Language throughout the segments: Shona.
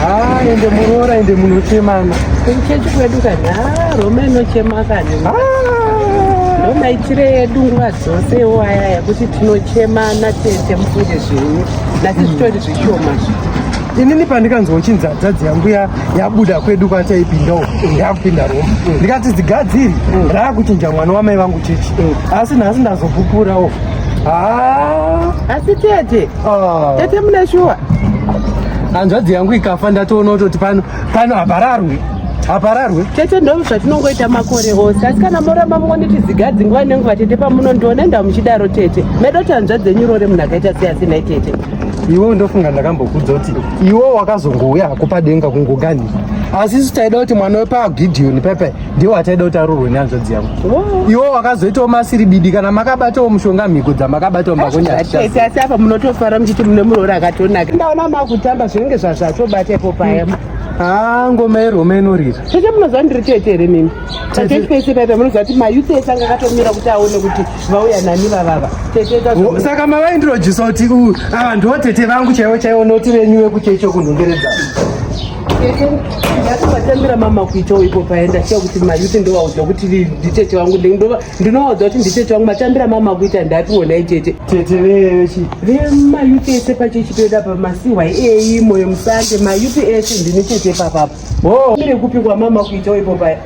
Ah, ende muroora ende munochemana. Kuchechi kwedu kani, ah, Roma inochema kani. Ah. Roma itire yedu nguva dzose iwo aya yekuti tinochemana tete mufunge zvenyu. Nasi hmm. zvitori zvishoma. Inini pandikanzwa uchinzi hadzadzi yangu yabuda kwedu kwataipinda uko yakupinda Roma. Hmm. Ndikati zigadziri hmm. raakuchinja mwana wamai vangu chechi. Asi nhasi ndazopupurawo. Ah. Asi tete Ah. Tete mune shuwa. Hanzvadzi yangu ikafa ndatoona kutoti pano pano hapararwe. Hapararwe. Tete ndoo zvatinongoita makore ose. Asi kana moramba mungoniti zigadzi nguva nenguva tete pamunondiona enda muchidaro tete. Medo kuti hanzvadzi yenyu rore munhu akaita sei asinai tete. Iwo ndofunga ndakambokudza kuti iwo wakazongouya hako padenga kungogani. Asi isu taida kuti mwana wepaGideon pepe ndiwo achaida kuti arurwe nehanzvadzi yangu oh. iwo wakazoitawo masiri bidi kana makabatawo mushonga mhiko dzamakabatawo mbakonyaaese asi apa munotofara muchiti mune muroora akatonaka ndaona makutamba zvinenge zvazvatobata ipo paya mm. haa ngoma yerome inorira cheche munoziva ndiri tete here mimi tatese paipa munoziva kuti mayuti ese anga akatomira kuti aone kuti vauya nani vavava saka mavaindirojisa kuti ava ndiwo tete vangu chaivo chaivo noti venyu vekuchecho kunhongeredzaa ndatovatambira mama kuitawo ipo paenda chiya kuti mayuti ndovaudza kuti nditete vangu ndinovaudza kuti nditete vangu matambira mama kuita ndapiwo nhai tete tete veyochi vemayuti ese pachechi toeda pa masihwa eyi moyo musande mayuti ese ndini tete papapo ho mire kupi kwamama kuitawo ipo paya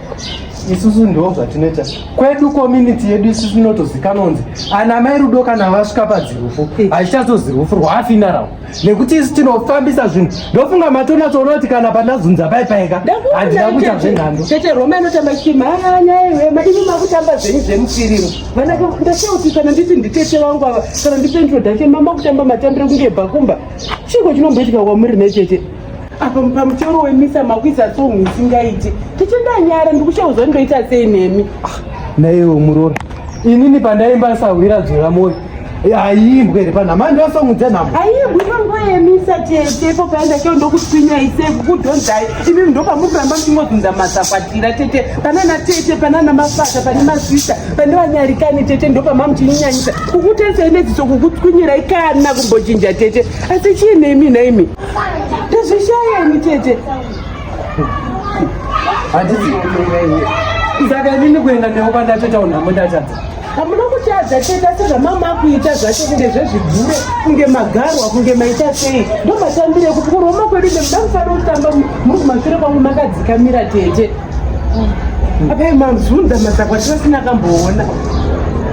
isusu ndo zvatinoita kwedu community yedu isusu inotozikanonzi ana mai rudo kana vasvika padzirufu hachichazozirufu rwafinarao nekuti isu tinofambisa zvinhu ndofunga matonatsoona kuti kana pandazunza pai paika handina kuita zvenhando tete roma inotamba chiti maanyaiwema imi makutamba zvenyu zvemufiriro vanake ndasiya kuti kana nditi nditete vangu ava kana ndipentrodache mama kutamba matambiro kunge bhakumba chiko chinomboitika kwamuri netete apa pamusoro wemisa makwiza song isingaiti tiche ndanyara ndikushauza ndoita sei nemi ah, naiwo muroora inini pandaimba sahwira dzora moyo haiimbwe ri panhama ndosong dzenhama haiimbwi panguva yemisa tete po paenda keo ndokutwinya isei kukudhonzai imi ndopamukuramba muchingozunza mazakwatira tete panana tete panana mafata pane masista pane vanyarikani tete ndopamamuchinyinyanyisa kukutesei nedziso kukutwinyirai kana kumbochinja tete asi chii nemi nhaimi ndozvishaya ini tete handisi saka inini kuenda newo kwandatotaundi hamundatadza hamuna kutadza tete asi zvamama akuita zvacho kunge zvezvigure kunge magarwa kunge maita sei ndomatambire kuti kuroma kwedu nemuda mufanira kutamba muri kumashure kwangu makadzikamira tete apai mamzunza mazakwa tivasina kamboona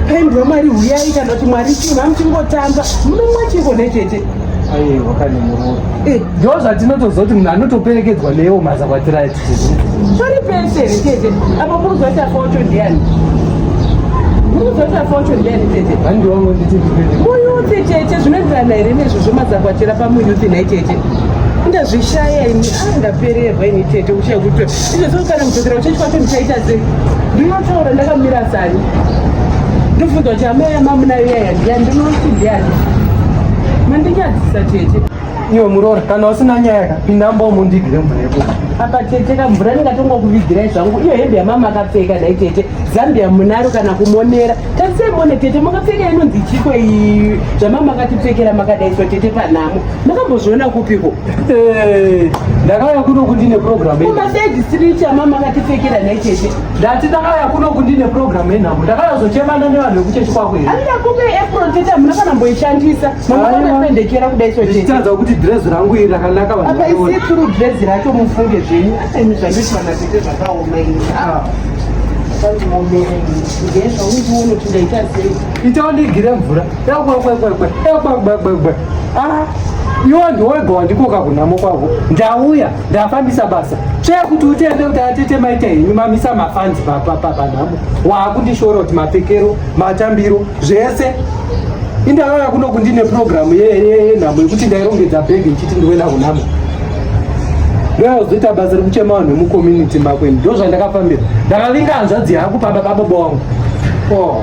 pendi wamwari huyai kana kuti mwari chii mamuchingotamba munomwa chiko nechete eh. ndo zvatinotoziva kuti munhu anotoperekedzwa newo mazakwatira pari pese here chete apo muruzoti afocho ndiani muruzoti afocho ndiani chete muyuti chete zvinoenderana here nezvo zvomazakwatira pamuyuti nhai chete ndazvishaya ini ndapererwa ini tete uchaya kuti izvezvo kana kudzokera uchechi kwacho ndichaita sei ndinotaura ndakamira sani ndofunza kuti amai amamunayo yaya ndiyani ndinoti ndiyani mandinyadzisa tete iwe muroora kana usina nyaya ka pinda mbomo ndigire mvura yeko apa tete ka mvura ndingatonga kuvigirai zvangu iyo hembe yamama akapfeka dai tete zambia munaro kana kumonera tatisemone tete makapfeka inonzi chiko iyi zvamama akatipfekera makadaiswa tete panhamo makambozviona kupiko Eh, ndakauya kuno kuti ine programu umasejisiricha mama akatipfekera nhai chete ndati ndakauya kuno kuti ine programu yenhambo ndakauya zochemana nevanhu vekuchechi kwako here andida kupe apron tete hamuna kana mboishandisa mamakapendekera kudai so chitadza kuti dress rangu iri rakanaka apa isi turu dress racho mufunge zvenyu aini zvanditi vana tete zvakaoma ini ah. itawo ndigire mvura Ah, iwo ndiwega wandikoka kunhamo kwavo ndauya ndafambisa basa tsvee kuti utende kuti atete maita henyu mamisa mafanzi papanhamo waakundishora kuti mapfekero matambiro zvese indakaka kuno kundine purogiramu yenhamo yekuti ndairongedza bhegi ichiti ndiwena kunhamo ndozoita basa rekuchema vanhu vemucommunity makweni ndo zvandakafambira ndakavinga hanzvadzi yangu pamba pababa wangu oh.